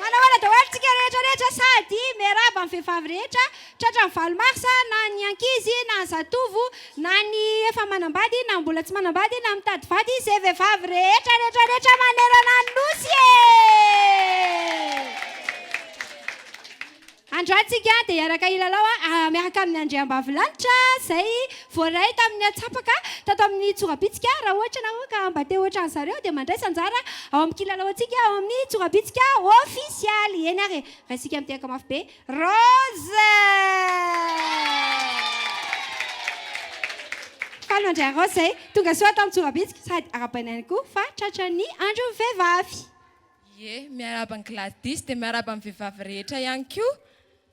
Manahoana daholo tsika rehetra rehetra sady miarahaba ny vehivavy rehetra tratra ny valo mars na ny ankizy na ny zatovo na ny efa manambady na ny mbola tsy manambady na mitady vady izay vehivavy rehetra rehetra rehetra manerana ny nosy e! Andro ahy tsika dia hiaraka hilalao miaraka amin'ny andriambavilanitra izay voaray tamin'ny antsapaka tato amin'ny tsorabitsika. Raha ohatra ianareo ka mba te ho ohatran'ny zareo dia mandraisa anjara ao amin'ny kilalaontsika ao amin'ny tsorabitsika ofisialy. Eny ary e! Raisika mitehaka mafy be. Rose! Faly mandray an'i Rose izay tonga soa ato amin'ny tsorabitsika sady arahabaina ihany koa fa tratran'ny andron'ny vehivavy. Ie, miarahaba an'i Gladys, dia miarahaba ny vehivavy rehetra ihany koa.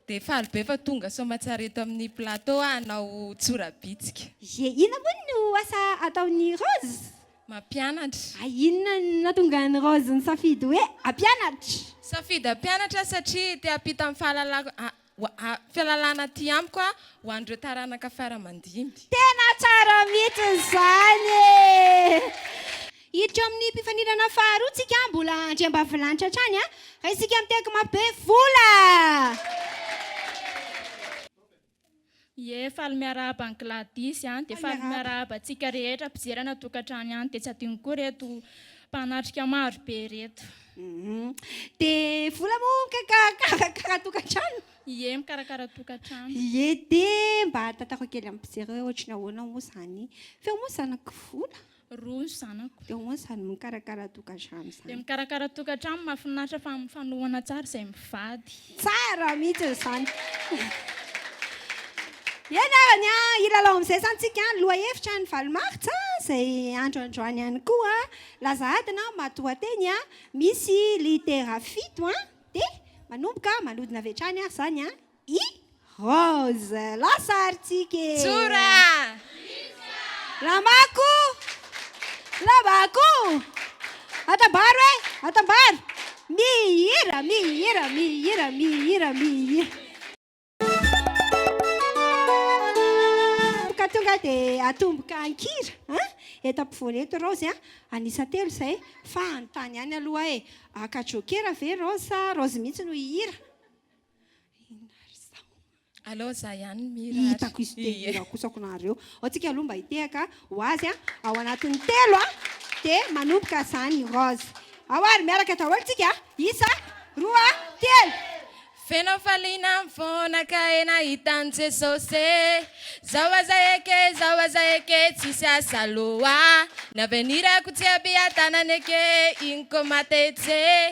Dia faly be fa tonga soamatsara eto amin'ny plateau aho hanao tsorabitsika. Ie, inona moa no asa ataon'i Rose? Mampianatra. Hay inona no nahatonga an'i Rose nisafidy hoe hampianatra? Safidy hampianatra aho satria te hampita ny fahalalako Fialalana aty amiko a ho an'ireo taranaka fara aman-dimy. Tena tsara mihitsy izany e! Hiditra amin'ny mpifaninana faharoa tsika mbola andriambavilanitra hatrany a! Fa isika miteky mafy be vola! Ie faly miarahaba an'i Gladys an! Dia faly miarahaba antsika rehetra mpijery any an-tokantrano ihany, dia tsy adinoko koa ireto mpanatrika maro be ireto. Dia vola moa mikarakara tokantrano? Ie mikarakara tokantrano. Ie dia mba tantarao kely amin'ny mpijery hoe ohatry ny ahoana moa izany feo moa zanak'i vola? Roa ny zanako. Dia ho'a izany mikarakara tokantrano izany. Dia mikarakara tokantrano, mahafinaritra fa mifanohana tsara izay mivady. Tsara mihitsy izany. Eny ary ny an, hilalao amin'izay izany tsika an, lohahevitra ny valo martsa izay andro androany ihany koa an, laza adina an, matoanteny an, misy litera fito an, dia manomboka manodina avy hatrany ary izany an. I Rose, lasa ary tsika e! Tsora! Lamako! Lamako! Atambaro e! Atambaro! Mihira, mihira, mihira, mihira, mihira. Ka tonga dia atomboka an-kira an! Eto ampovoany eto Rose an! An'isa telo izay fa hanontany ihany aloha aho e! Haka jokera ve Rose sa Rose mihitsy no hihira? Inona ry zao? Aleo izaho ihany no mihira ary. Hitako izy te hihira kosa aokanareo. Ao tsika aloha mba hitehaka ho azy a! Ao anatin'ny telo a! Dia manomboka izany Rose. Ao ary miaraka daholo tsika a! Isa, roa, telo! Feno faliana ny foana ka e nahita an'i Jesosy e Zao aza eke, zao aza eke tsisy asa loha Navenir-ko tsy abiha-tanana eke, iny ko matetse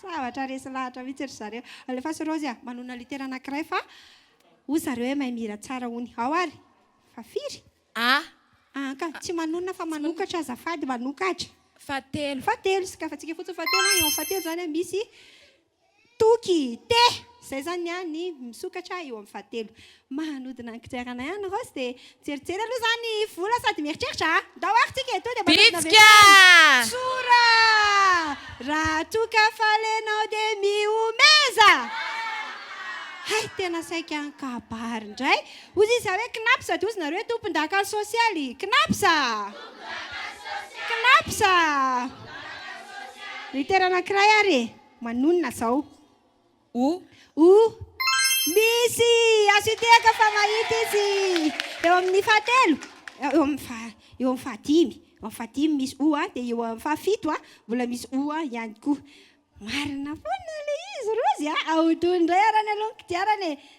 Zavatra resy lahatra mihitsy ry zareo. Alefaso Rozy a! Manonona litera anankiray fa hoy zareo hoe mahay mihira tsara hono. Ao ary! Fa firy? A. An ka! Tsy manonona fa manokatra azafady, manokatra. Fahatelo. Fahatelo, sokafantsika fotsiny fahatelo an! Eo amin'ny fahatelo izany an, misy toky. Te! Izay izany ny an, ny misokatra eo amin'ny fahatelo. Manodina ny kodiaranay any Rose dia mijerijery aloha za ny vola sady mieritreritra a! Ndao ary tsika etoa dia manodina avy hatrany! Tsora! Raha toa ka faly ianao dia mihomeza! Hay tena saika an-kabary indray! Hozy izaho hoe Knaps sady hozy nareo hoe tompondaka sosialy! Knaps a! Knaps a! Ritera anankiray ary e! Manonona izao. O. O. Misy! Azo iteaka fa mahita izy eo amin'ny fahatelo, eo amin'ny faha, eo amin'ny fahadimy, eo amin'ny fahadimy misy O a, dia eo amin'ny fahafito a, mbola misy O a ihany koa. Marina foana ilay izy Rozy a! Ahodino indray ary any aloha ny kodiarana e!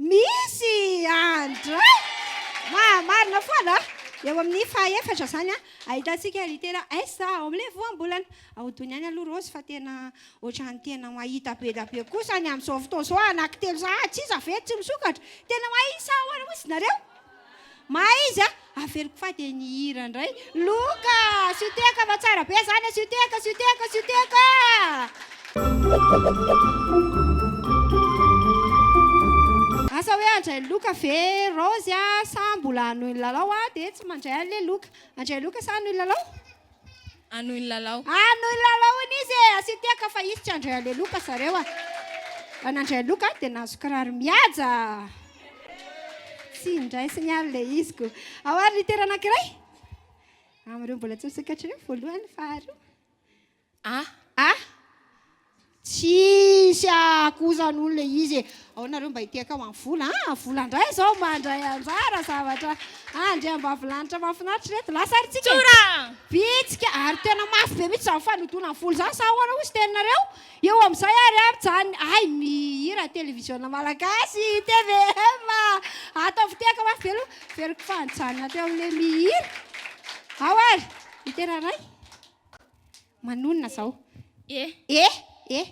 Misy andra! Maha marina foana a! Eo amin'ny faha efatra izany a, ahitantsika litera S ao amin'ilay voambolana. Ahodino ihany aloha Rose fa tena ohatran'ny tena mahita be dia be kosa ny amin'izao fotoana izao, anaky telo sahady sisa ve tsy misokatra? Tena mahita sa ahoana moa izy nareo? Mahay izy a! Averiko fa dia nihira indray. Loka! Asio tehaka fa tsara be izany, asio tehaka, asio tehaka, asio tehaka! Asa hoe handray ny loka ve Raozy a? Sa mbola hanohy ny lalao a? Dia tsy mandray an'ilay loka. Handray loka sa hanohy lalao? Anoy ny lalao. Anoy ny lalao hono izy e! Asio tehaka fa hisy tsy handray haleloka zareo a! Raha nandray haleloka dia nahazo kiraro mihaja. Tsy indray sy ny alo ilay izy ko. Ao ary litera anankiray. Amin'ireo mbola tsy misokatra ireo, voalohany, faharoa. A. A. Tsisy ahakouzan olo le izy e! Aona nareo mba hitehaka ho an'ny vola an! Vola ndray zao mandray anjara zavatra andriambavilanitra mahafinaritra ireto lasa ary tsika e! Bitsika ary tena mafy be mihitsy zany fanodonan'ny vola zany sa ahoana hozy teninareo? Eo amin'izay ary an mijanona hay mihira television malagasy tvm a! Ataovy tehaka mafy be aloha averiko fa nijanona teo amin'ilay mihira. Ao ary ny tena ray. Manonona izao. E. E. E.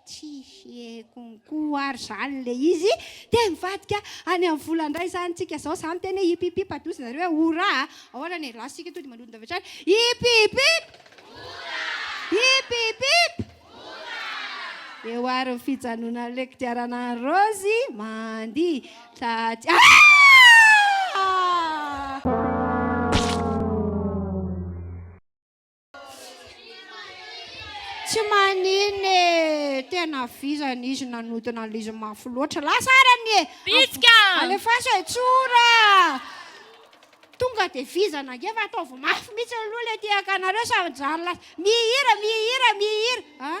Tsy heko koa ary izany ilay izy. Dia mivadika any amin'ny vola indray izany tsika izao. Izany teny hoe hip hip hip adozy nareo hoe hourra a. Ahoana ny last tsika tonga dia manodina avy hatrany. Hip hip hip. Hourra. Hip hip hip. Hourra. Eo ary ny fijanonan'ilay kodiarana an'i Rozy mandihy. Traty. Ah! Tsy maninona e, tena vizana izy nanodina an'izy mafy loatra. Lasa ary anie. Bitsika! Alefaso e, tsora! Tonga dia vizana ange fa ataovy mafy mihitsy aloha ilay tiakanareo sa mijanona lasa mihira, mihira, mihira. Ah?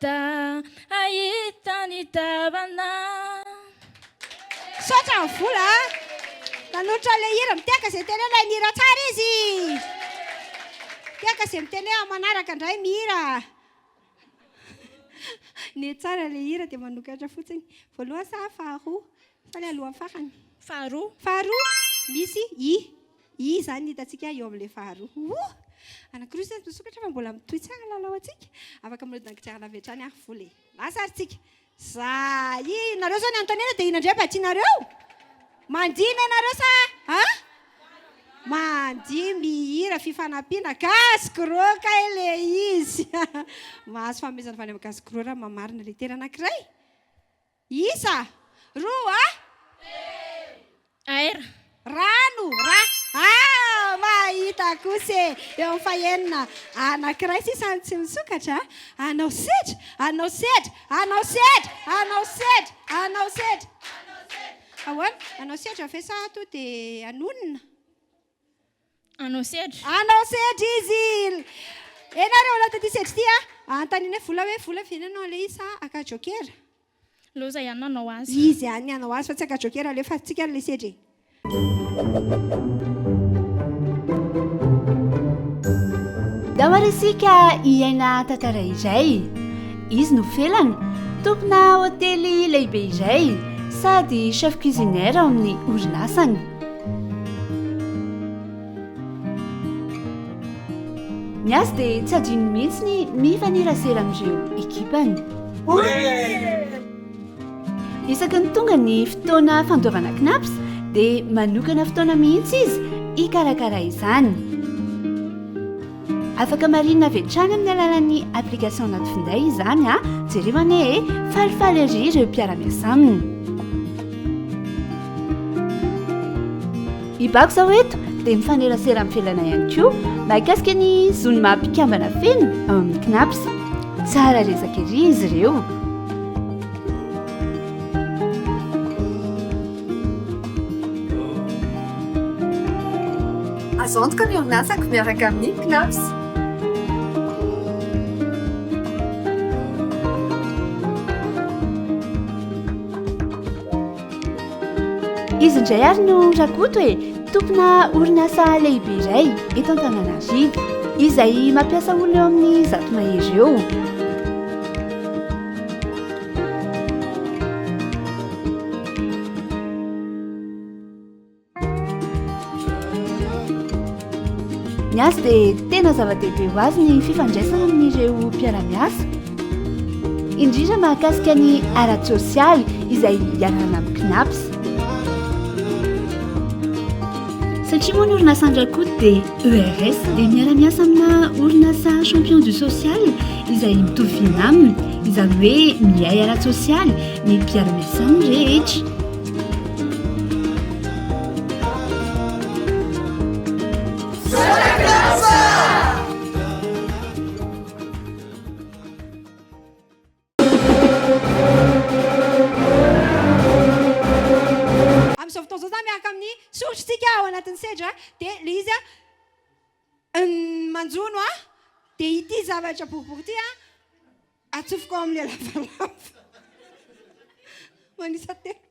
Da hahita ny tavana. Misaotra an'i Vola a! Nanolotra an'ilay hira Miteaka izay miteny hoe ilay mihira tsara izy! Miteaka izay miteny hoe amin'ny manaraka indray mihira! Ny tsara ilay hira dia manokatra fotsiny. Voalohany sa faharoa? Fa ilay alohan'ny farany. Faharoa. Faharoa, misy i. I izany no hitantsika eo amin'ilay faharoa. Ohh! Anankiroa izany no misokatra fa mbola mitohy tsara ny lalao antsika. Afaka mirodona an-kodiarana avy hatrany ary vola e. Lasa ary tsika. Za i. Nareo zao ny anontaniana dia inona indray mba tianareo? Mandihy ne nareo sa a? Mandihy mihira fifanampiana gasy gros kay le izy. Mahazo fanomezana avy any amin'ny gasy gros raha mamarina letera anankiray. Isa, roa a. Telo. Air. Rano, ra. Ah! Mahita kosa e! Eo amin'ny fahenina, anankiray sisa no tsy misokatra a. Anao sedra, anao sedra, anao sedra, anao sedra, anao sedra. Ahoana? Anao sedra ve sa toa dia hanonona? Anao sedra. Anao sedra izy. Enareo aloha taty sedra ity a. Anontanianay vola hoe vola ve ny anao ilay izy sa aka jokera? Loza ihany no hanao azy fa. Izy ihany ny hanao azy fa tsy aka jokera alefatsika ilay sedra e. Dao ary isika hiaina tantara iray. Izy no felana, tompona hotely lehibe iray sady chef cuisinière ao amin'ny orinasany. Ny azy dia tsy adinony mihitsy ny mifanerasera amin'ireo ekipany. Isaky ny tonga ny fotoana fandoavana knaps dia manokana fotoana mihitsy izy hikarakara izany. Afaka marihina avy hatrany amin'ny alalan'ny application anaty finday izany a! Jereo anie e! Falifaly ery ireo mpiara-miasa aminy. I Bako izao eto dia mifanerasera amin'ny fialana ihany koa mahakasika ny zony maha mpikambana feno ao amin'ny Cnaps. Tsara resaka ery izy ireo. Azo antoka ny orinasako miaraka amin'ny Knaps. Izy indray ary no Rakoto e, tompona orinasa lehibe iray eto Antananarivo izay mampiasa olona eo amin'ny zato mahery eo. Ny azy dia tena zava-dehibe ho azy ny fifandraisana amin'ireo mpiara-miasa, indrindra mahakasika ny ara-tsosialy izay ianarana amin'ny CNAPS. Satria moa ny orinasan-dRakoto dia ERS dia miara-miasa amina orinasa champion du social izay mitovy fiaina aminy, izany hoe miay ara-tsosialy ny mpiara-miasan'ny rehetra. Amin'izao fotoana izao za miaraka amin'ny soritr'tsika ao anatin'ny sedra dia le izy manjono ahy dia ity zavatra boribory ity atsofoko ao amin'ilay lavalava manisa tena.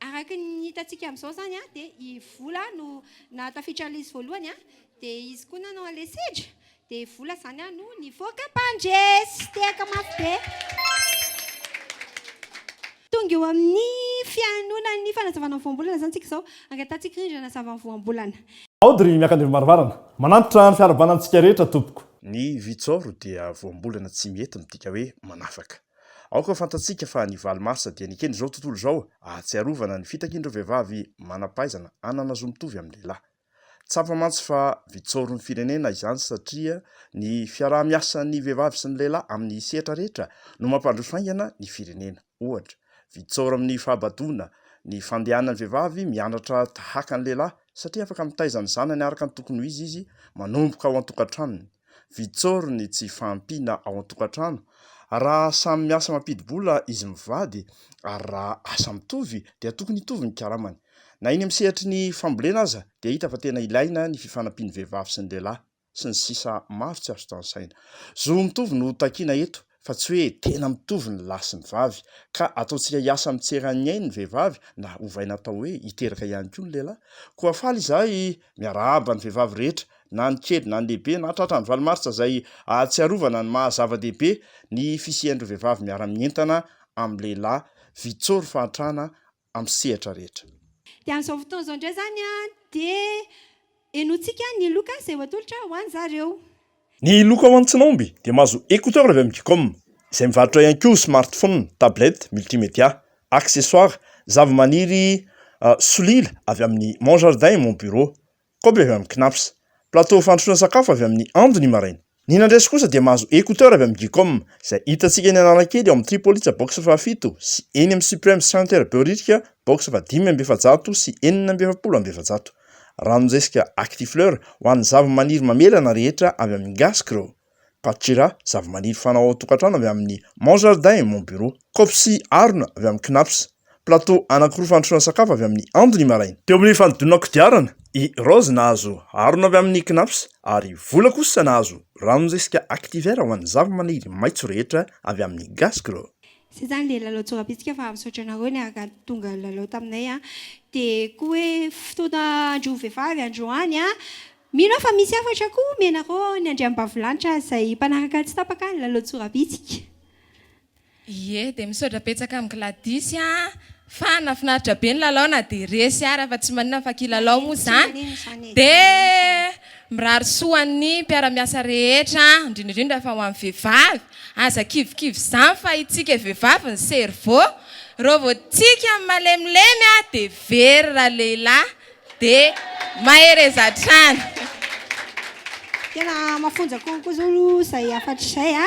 Araka ny hitantsika amin'izao izany dia i Vola no nahatafiditra an'ilay izy voalohany dia izy koa nanao an'ilay sedra dia i Vola izany no nivoaka mpandresy. Tehaka mafy be. Tonga eo amin'ny fihainoanan'ny fanazavana ny voambolana izany isika izao. Angatahantsika rindrina hanazava ny voambolana. Aody ry Miakandevimarivarana. Manantitra ny fiarahabana antsika rehetra tompoko. Ny vitsôro dia voambolana tsy mety midika hoe manafaka. Aoka fantatsika fa ny valo marsa dia nekeny izao tontolo izao ahatsiarovana ny fitakian'ireo vehivavy manam-pahaizana hanana zo mitovy amin'ny lehilahy. Tsapa mantsy fa vitsaorin'ny firenena izany satria ny fiaraha-miasan'ny vehivavy sy ny lehilahy amin'ny sehatra rehetra no mampandroso haingana ny firenena. Ohatra, vitsaory amin'ny fahabadoana ny fandehanan'ny vehivavy mianatra tahaka ny lehilahy satria afaka mitaiza ny zanany araka ny tokony ho izy izy manomboka ao an-tokantranony. Vitsôro ny tsy fahampiana ao an-tokantrano raha samy miasa mampidi-bola izy mivady ary raha asa mitovy dia tokony hitovy ny karamany. Na eny amin'ny sehatry ny fambolena aza dia hita fa tena ilaina ny fifanampian'ny vehivavy sy ny lehilahy sy ny sisa maro tsy azo tanisaina. Zo mitovy no takiana eto fa tsy hoe tena mitovy ny lahy sy ny vavy, ka ataontsika hiasa mitsera an'ny ainy ny vehivavy na ovaina atao hoe hiteraka ihany koa ny lehilahy. Koa faly izahay miarahaba ny vehivavy rehetra, na ny kely na ny lehibe, na tratra ny valo martsa izay ahatsiarovana ny maha zava-dehibe ny fisian'ireo vehivavy miara-mientana amin'ny lehilahy, Vitsory fahantrana amin'ny sehatra rehetra. Dia amin'izao fotoana izao indray izany dia henointsika ny loka izay voatolotra ho an'zareo. Ny loka ho an'tsinaomby dia mahazo écouteurs avy amin'ny Gcom, izay mivarotra ihany koa smartphone, tablette, multimedia, accessoires, zavamaniry solila avy amin'ny Mon Jardin et Mon Bureau, Koba avy amin'ny Cnaps. Plateau fandrosoana sakafo avy amin'ny Ando ny maraina. Ny nandresy kosa dia mahazo écouteur avy amin'ny Gcom, izay hitantsika eny Analakely ao amin'ny Tripolitsa box fahafito sy eny amin'ny Supreme Center Behoririka box fahadimy amby efajato sy enina amby efapolo amby efajato. Ranon-jezika Actifleur ho an'ny zava-maniry mamelana rehetra avy amin'ny Gascro. Pachira, zavamaniry fanao ao an-tokantrano avy amin'ny Mon Jardin et Mon Bureau. Kaopy sy harona avy amin'ny Knapp's. Plateau anankiroa fandrosoana sakafo avy amin'ny Andly maraina. Teo amin'ny fanodinana kodiarana, i Rose nahazo harona avy amin'ny Knapp's ary i Vola kosa nahazo ranon'zezika Activer ho an'ny zavamaniry maitso rehetra avy amin'ny Gasgrow. Zay zany le lalao tsorapisika fa misaotra anareo niaraka tonga nilalao taminay an, de koa hoe fotoana andro vehivavy androany an, Mino aho fa misy hafatra koa omenareo ao ny Andriambavilanitra izay mpanaraka tsy tapaka ny lalao Tsorabitsika. Ie dia misaotra betsaka amin'i Gladys a! Fa nafinaritra be ny lalao na dia resy ara fa tsy maninona fa kilalao moa izany dia mirary soa ny mpiara-miasa rehetra indrindra indrindra fa ho an'ny vehivavy aza kivikivy izany fa itsika vehivavy ny cerveau reo vao tsika malemilemy dia very ralehilahy Dia mahereza hatrany. Tena mafonja konko zao aloha izay hafatry izay a.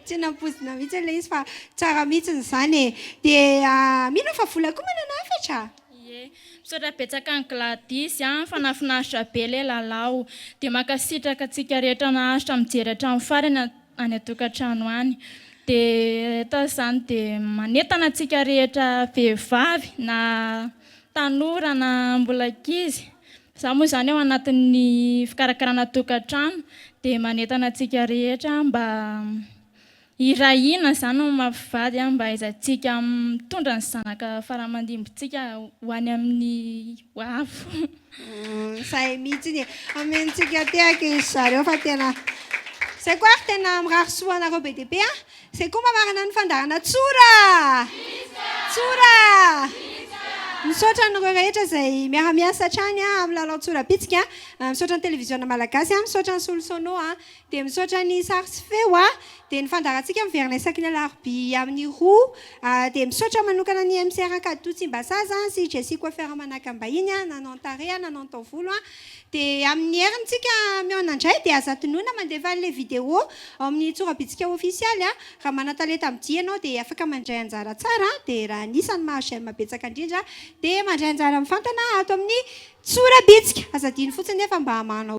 Tsy nampozina mihitsy ilay izy fa tsara mihitsy izany e. Dia mino fa vola koa manana hafatra? Ie. Misaotra betsaka an'i Gladys a, fa nahafinaritra be ilay lalao. Dia mankasitraka antsika rehetra naharitra mijery hatramin'ny farany. any an-tokantrano any dia atao izany dia manentana antsika rehetra vehivavy na tanora na mbola ankizy za moa izany ao anatin'ny fikarakarana tokantrano dia manentana antsika rehetra mba hiray hina izany ny maha mpivady mba hahaizantsika mitondra ny zanaka faramandimby tsika ho any amin'ny ho avy Izay mihitsiny e. Omentsika tehaka izy zareo fa tena Zay koa ary tena mirary soa anareo be dia be a. Zay koa mamarana ny fandaharana tsora! Tsora! Misaotra anareo rehetra izay miara-miasa hatrany amin'ny lalao tsora bitsika. Misaotra ny televiziona malagasy, misaotra ny solosono. Dia misaotra ny sary sy feo a! Dia ny fandaharantsika miverina isaky ny alarobia amin'ny roa a! Dia misaotra manokana ny MCR Ankaditua Tsimbazaza sy Jessie Coiffeur Manakambahiny a! Nanao ny tarehy a! Nanao ny taovolo a! Dia amin'ny heriny tsika mihaona indray dia aza tonona mandefa an'ilay video ao amin'ny Tsorabitsika Ofisialy a! Raha manan-talenta amin'ny dihy ianao dia afaka mandray anjara tsara a! Dia raha anisan'ny mahazo j'aime betsaka indrindra dia mandray anjara mivantana ato amin'ny Tsorabitsika! Aza adino fotsiny nefa mba manao